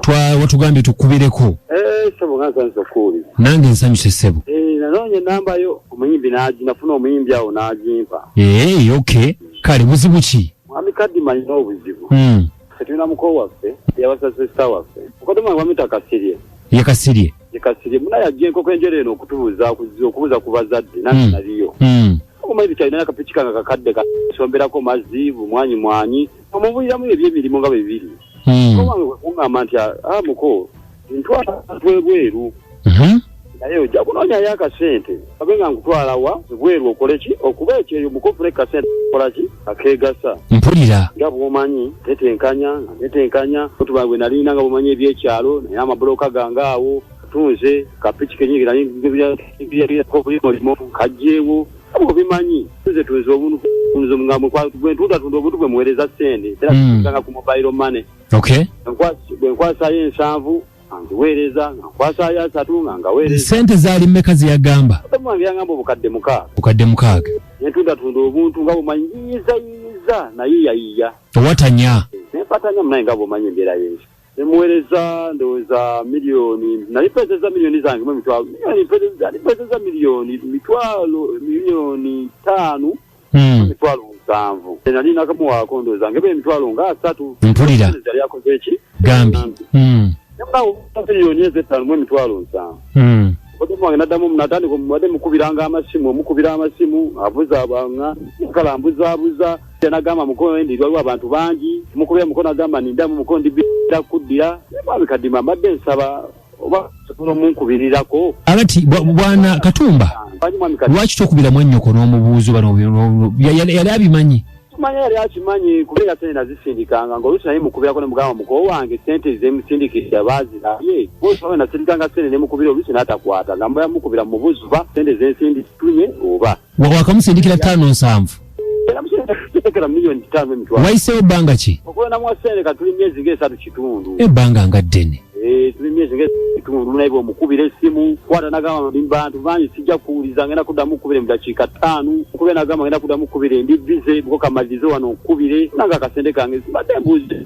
twa watugambye tukubireko eh, sebo nga nsanyuse okuwulira nange nsanyuse sebo eh, nanoonya enamba yo omuyimbi nagi nafuna omuyimbi awo nagimpa ee eh, ok kale buzibu ki mwami kadima alina obuzibu hmm. fetulina muko waffe yabasasesa waffe okodoma wamita kasirye ye kasirye ye kasirye muna yajja enkoko enjero eno okutubuza okubuza ku bazadde nange hmm. naliyo hmm. okumaizi kyalina nakapiki kanga kakadde kasomberako mazzi bumwanyi mwanyi omubuliramu ebyemirimu nga bebiri hmm. owange kwekugamba nti ah, ah, muko ntwala abantu ebweru mhm. naye ojja kunoonyayo akasente abe nga nkutwalawa ebweru okole ki okuba ekyeyo mukofuna ekasente kola ki akegasa mpulira nga bwomanyi tetenkanya nga tetenkanya otuba gwe nalina nga bwomanyi ebyekyalo naye amabuloka gange awo tunze kapiki kenyingi naye ngebyakobulimo kajjeewo abo bimanyi nze tunze obuntu nze mugambo bwentuuta tunda obuntu bwe muweereza sente era tutanga hmm. ku mobile money okay bwenkwasayo ensanvu angiweereza nga nkwasayo asatu nga ngaweereza sente zaali mmeka zeyagamba wange yangamba obukadde mukaaga bukadde mukaaga nentunda tunda obuntu nga bumanyi yiyiza yiyiza naye yayiya owatanya nempatanya munaye nga bumanyi embeera yensi nemuwereza ndowooza miliyoni nali mpezeza miliyoni zange mumitwalo nali mpezeza miliyoni mitwalo miliyoni taano hmm. emitwalo musanvu nali nakamuwaako ndowooza ngeba emitwalo nga asatu mpulira yali akoze eki gambi hmm. miliyoni ezo ettaano mu emitwalo nsanvu hmm. omutima wange naddamu natandika mubadde mukubiranga amasimu omukubira amasimu abuzaabanga kala mbuzaabuza nagamba mukono endi waliwo abantu bangi mukulu ya mukono agamba nindamu mukono ndibira kuddira mwami kadima mbadde nsaba oba sobola omunkubirirako alati bwana katumba lwaki tokubira mwanyoko n'omubuuzo bano yali abimanyi manya yali akimanyi kubeera sente nazisindikanga ngaolusi naye mukubirako nemugamba mukowo wange sente zemusindikira bazirabye osawe nasindikanga sente nemukubira olusi natakwata nga mukubira mubuzuba sente zensindi tunye oba wakamusindikira taano nsanvu wayisewo bbanga ki ebbanga nga ddene eh, naye omukubira esimu kwata nagamba ndi bantu bangi sijja kuwuliza ngenda kuddamu okukubira mu dakiika ttaano okubira nagamba ngenda kuddamu okukubira endi bize bukokamalirize wano okukubire nanga akasente kange sibadde mbuuzi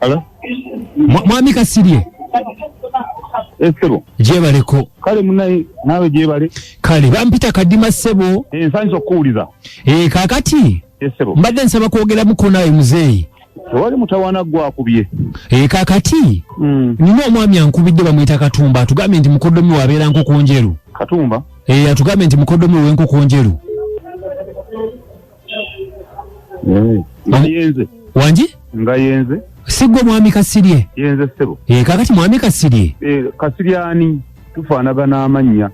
Hello? Mwa- mwami kasirye Esebo. gyebaleko Kale munaye naawe gyebale. kale bampita kadima ssebo Ensanyi z'okukuwuliza. e, kakati mbadde nsaba kwogeramuko naawe muzeeyi tewali mutawana gwakubye ee eh, kakati hmm. nina omwami ankubidde bamuyita katumba atugambye nti mukodomi wabeera nkoko njeru katumba ee eh, atugambye nti mukodomi wenkoko njeru eh, ngayenze wangi ngayenze sigwe mwami kasirye yenze sebo ee kakati mwami kasirye ee kasirye ani tufaanagana amannya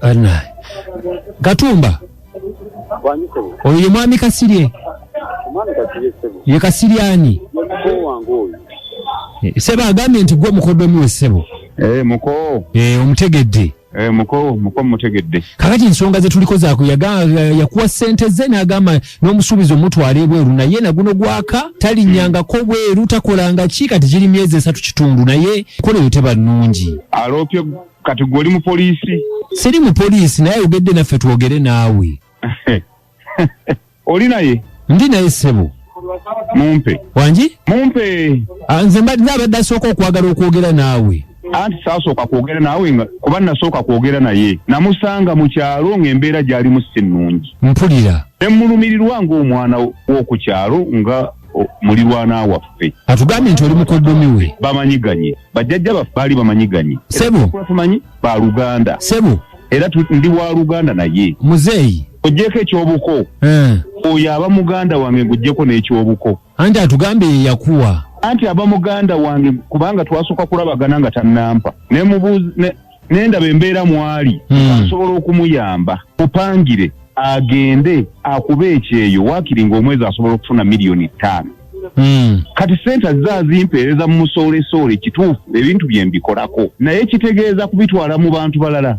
katumba Bwanyi sebo. oyo ye mwami kasirye Omwami kati ye sebo. ye kasirye ani Ye mukoo wange oyo. Eh, sebo agambye nti gwe mukodomi we sebo Eh, muko. Eh, omutegedde Eh, muko, muko mutegedde. kakati ensonga zetuliko zaku yakuwa sente ze nagamba n'omusuubizi omutwala ebweru naye naguno gwaka talinyangako bweru takolanga ki kati giri myezi esatu kitundu naye kola eyo teba nnungi Aloopye kati gwe oli mupoliisi siri mupoliisi naye ayogedde naffe twogere naawe oli naye ndi naye ssebo mumpe wangi mumpe ah, nze mbadde abadde asooka okwagala okwogera naawe anti saasooka kwogera naawe nga kuba nasooka kwogera naye namusanga mu kyalo ng'embeera gyalimu si nnungi mpulira ne mmulumirirwa ng'omwana w'oku kyalo nga mulirwana waffe atugambye nti oli mukoddomi we bamanyiganye bajjajja baffe baali bamanyiganye sebo tumanyi ba luganda sebo era ndi wa luganda naye muzeeyi ojjeko ekyobuko eh. oyo aba muganda wange ngujjeko n'ekyobuko anti atugambye ye yakuwa anti aba muganda wange kubanga twasooka kulabagana nga tannampa nemubuuzi nendaba embeera mwali hmm. asobola okumuyamba mupangire agende akuba ekyeyo wakiri nga omwezi asobola okufuna miliyoni ttaano hmm. kati sente azze azimpeereza mu musoolesoole kituufu ebintu bye mbikolako naye kitegeeza kubitwala mu bantu balala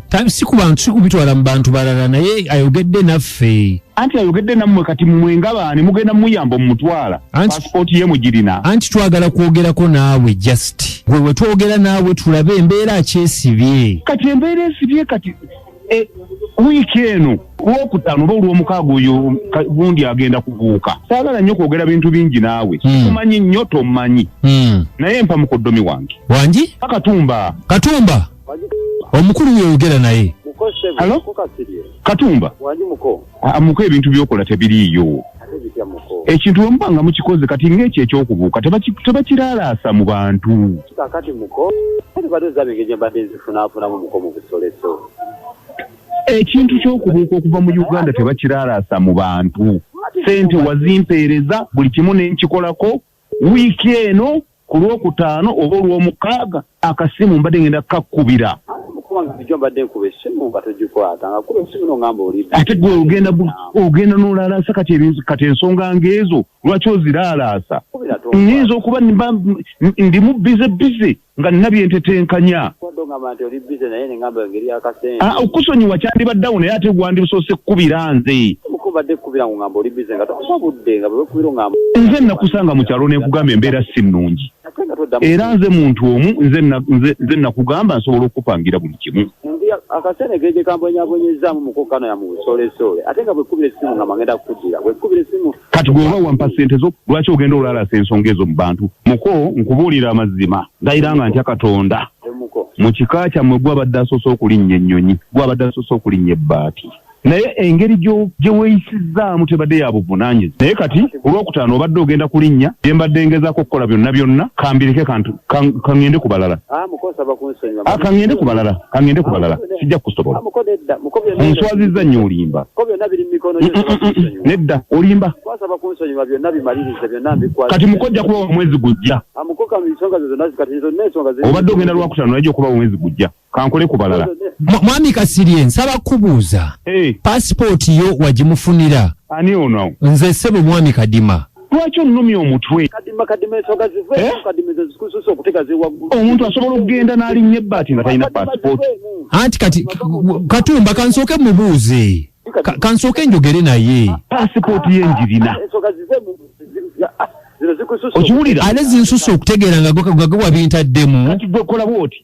si kubitwala mu bantu balala naye ayogedde naffe anti ayogedde nammwe kati mmwe nga baani mugenda muyamba omumutwala pasipooti ye mugirina anti twagala kwogerako naawe just gwe we twogera naawe tulabe embeera akyesibye kati embeera esibye kati e, wiiki eno lwokutaano oba olwomukaaga oyo gundi agenda kubuuka saagala nnyo kwogera bintu bingi naawe hmm. sikumanyi nnyo tommanyi hmm. naye mpa mukoddomi wange wangi katumba katumba omukulu weyogera naye katumba ah, ah, muko ebintu byokola tebiriiyo ekintu wemuba nga mukikoze kati ngaekyo ekyokubuuka tebakiralaasa mu bantu ekintu kyokubuuka okuva mu uganda tebakiralaasa mu bantu sente wazimpeereza buli kimu nenkikolako Wiiki eno ku lwokutaano oba olwomukaaga akasimu mbadde ngenda kukakubira ate gwe ogenda ogenda nolaalaasa kati kati ensonga ngaezo lwaki oziraalaasa nyinza okuba ndimu bize bize nga nina byentetenkanya ah, okusonyiwa kyandibaddawo naye ate gwandibusoose kukubira nze nze nakusanga mu kyalo nenkugamba embeera si nnungi era nze muntu omu nze nakugamba nsobola okukupangira buli kimu akasene geje kambonyaabonyezamu mukukano ya mubusolesole ate nga bwekubira esimu nga magenda kukujira bwekubira esimu kati gwe oba wampa sente zo lwaki ogenda olalasa ensonga ezo mu bantu muko nkubuulira amazima ndayira nga ntya katonda mu kika kyammwe gwabadde asoose okulinnya ennyonyi gwabadde asoose okulinnya ebbaati naye engeri gye weeyisizzaamu tebadde ya buvunaanyizi naye kati olwokutaano obadde ogenda kulinnya gye mbadde ngezaako okukola byonna byonna kambireke kaŋŋende ku balala ah, Ah, kangende ku balala kangende ku balala sijja kukusobola onswazizza nnyo olimba nedda olimba kati mukojja kuba wa mwezi gujja obadde ogenda lwakutano najja okuba wa mwezi gujja kankole ku balala mwami kasirye nsaba kukubuuza pasipooti yo wagimufunira ani ono nze sebo mwami kadima lwaki onnumya omutwe eh? omuntu asobola okugenda n'alinnya ebbaati nga talina paasipooti anti kati katumba kansooke mubuuze kansooke njogere naye paasipooti ye njirina okiwulira ate zinsusa okutegeera nga gwe wabintaddemu kati gwe kola bwoti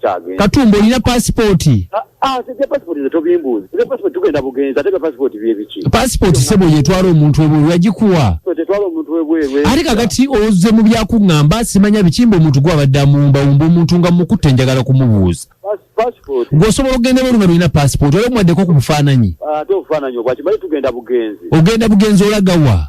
kyagenda katumba olina pasipooti ebya pasipooti ze tobimbuuzi ebya pasipooti tugenda bugenzi ate ebya pasipooti byebiki pasipooti sebo yetwala omuntu webweru yagikuwa tetwala omuntu webweru ate kakati oze mu byakuŋŋamba simanya bikimba omuntu gwabadde amuwumbawumba omuntu nga mukutte njagala kumubuuza gweosobola okugenda bweru nga lolina pasipooti oba omuwaddeko ku bufaananyi ah, ate obufaananyi obwakimanyi tugenda bugenzi ogenda bugenzi olagawa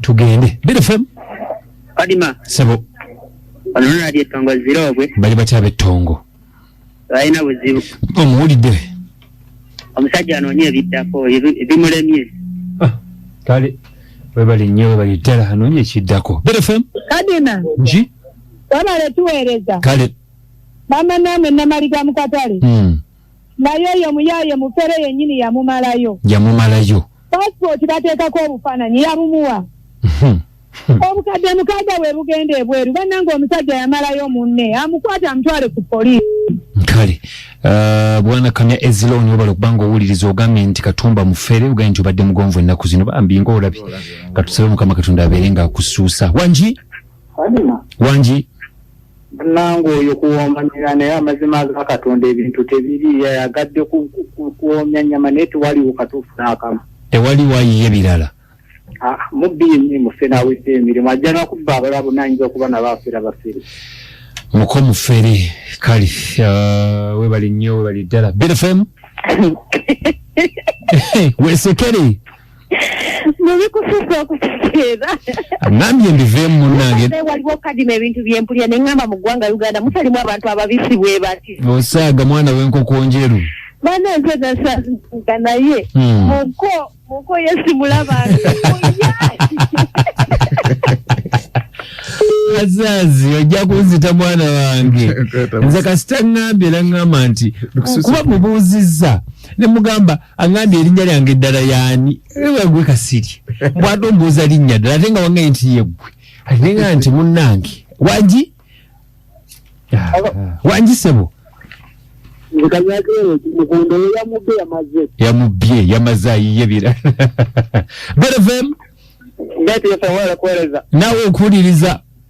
tugende bdfm kadima sebo ononadi etongo ziroobwe bali batya betongo balina buzibu omuwulidde omusajja anoonya ebiddako ebimulemye ah, kale webali nnyo webali ddala anoonya ekiddako bdfm kadima nki wabale tuweereza kale mama naame namaliga mukatale hmm. naye oyo muyaye mufere yenyini yamumalayo yamumalayo passport bateekako obufaananyi yabumuwa hmm. Hmm. obukadde mukaaga bwe bugenda ebweru bannanga omusajja yamalayo munne amukwata amutwale ku poliisi kale uh, bwana kamya eziloni obala okubanga owuliriza ogambye nti katumba mufere ogambye nti obadde mugonvu ennaku zino bambi nga olabye katusabe mukama katonda abeere nga akusuusa wangi wangi Bannange oyo kuwooma nyama naye amazima aga Katonda ebintu tebiri yayagadde kuwoomya nyama naye tewaliwo katuufu n'akamu. Tewali wayiye birala. Ah, mubbi yennyini mufe n'awedde emirimu ajja nakubba abalala bonna ayinza okuba nabo afera bafere. Muko mufere kale uh, webali nnyo webali ddala. Beta FM. Wesekere. mubikususa okutegeera ngambye mbiveemu munange waliwo kadima ebintu byempulira ne ngamba mu ggwanga uganda mutalimu abantu ababisi bwe bati osaaga mwana w'enkoko njeru bana nze nasaga naye hmm. muko muko yesimulabanga azazi ojja kunzita mwana wange nze kasita ŋŋambye naŋŋamba nti kuba mubuuzizza ne mugamba angambye erinnya lyange eddala yaani wagwe kasiri mbwate ombuuza linnya ddala ate nga wangaye nti yeggwe ate nga nti munnange wangi ah, wangi sebo yamubbye yamaze ayiye bira berevem naawe okuwuliriza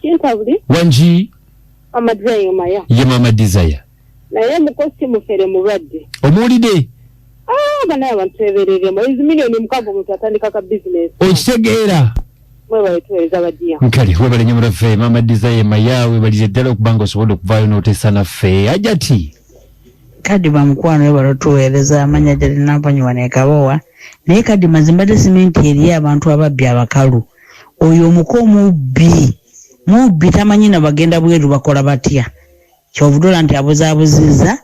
kintabuli wangi mama desire yomaya ye mama desire naye mukosi mufere mulwadde omuwulide ah, banaye abantu tebereremu izi milioni mukago omuntu atandika ka bizinesi okitegeera mwebale tuwereza bajiya nkale webale nyo muraffe mama desire maya webalize ddala okuba nga osobodde okuvaayo n'oteesa naffe ajati kadima mukwano webale otuweereza amanya jali nampanyi wanekabowa naye kadima zimbadde simenti eriyo abantu ababbi abakalu Oyo omuko mubbi mubbi tamanyi na bagenda bweru bakola batya kyovudula nti abuzabuziza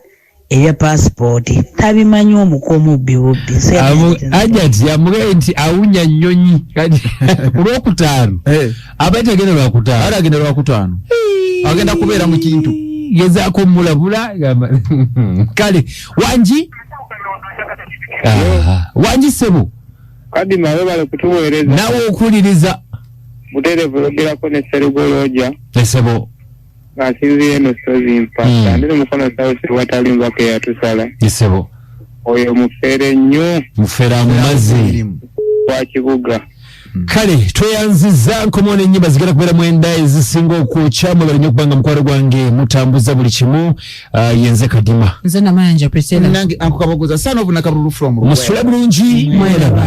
ebya passport tabimanyi omuko mubbi bubbi ajat yamugaye nti awunya nyonyi kulwokutaano eh. aba tagenda lwakutaano ala agenda lwakutaano agenda kubeera mu kintu gezaako mulabula kale wangi wangi sebo kadima webale kutuweereza nawe okuwuliriza buterevu yogerako ne serugolooja esebo asinziira eno sozi mpa hmm. andiri mukono sausi watali mbaka eyatusala esebo oyo mufere nnyo mufere amumazi wa kibuga Mm. kale tweyanziza nkomo nenyimba zigenda kubera mwenda ezisinga okwokya mwebale nyo kubanga mukwaro gwange mutambuza buli kimu Ah, yenze kadima nze namayanja prisela nange ankukabogoza sana obuna kabululu from musula bulungi mwelaba